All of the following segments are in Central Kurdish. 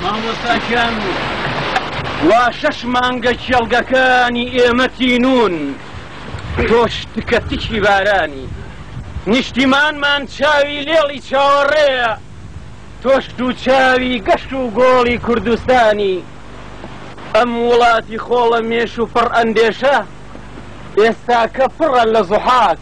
مامۆستا گیان وا شەش مانگە کێڵگەکانی ئێمە تینوون تۆش تکە تکی بارانی نیشتیمانمان چاوی لێڵی چاوەڕێە تۆش دوو چاوی گەشت و گۆڵی کوردستانی ئەم وڵاتی خۆڵە مێش و پڕ ئەندێشە ئێستاکە پڕە لە زحاک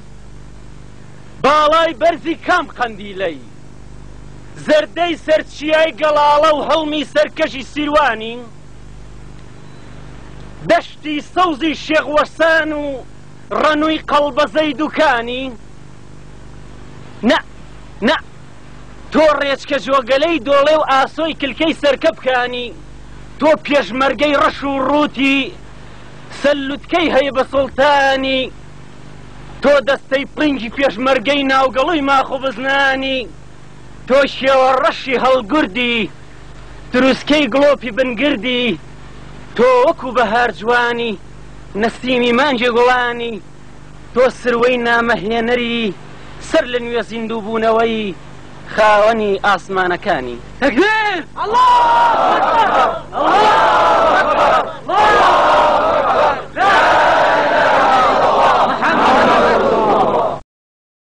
باڵای بەرزی کام قەندیلەی زەردەی سەر چیای گەڵاڵە و هەڵمی سەرکەشی سیروانی و دەشتی سەوزی شێخ وەسان و ڕەنووی قەڵبەزەی دوکانی نە نە تۆ ڕێچکە جۆگەلەی دۆڵێ و ئاسۆی کلکەی سەرکەپکانی تۆ پێشمەرگەی ڕەش و ڕووتی سەلوتکەی هەیە بە سوڵتانی تۆ دەستەی پڕینگی پێشمەرگەی ناوگەڵوی ماخ و بزنانی تۆ شێوە ڕەشی هەڵگوردی تروسکەی گڵۆپی بن گردی تۆ وەکو بەهار جوانی نەسیمی مانگی گوڵانی تۆ سروەی نامە هێنەری سەر لە نوێ زیندوو بوونەوەی خاوەنی ئاسمانەکانی. تەکبیر!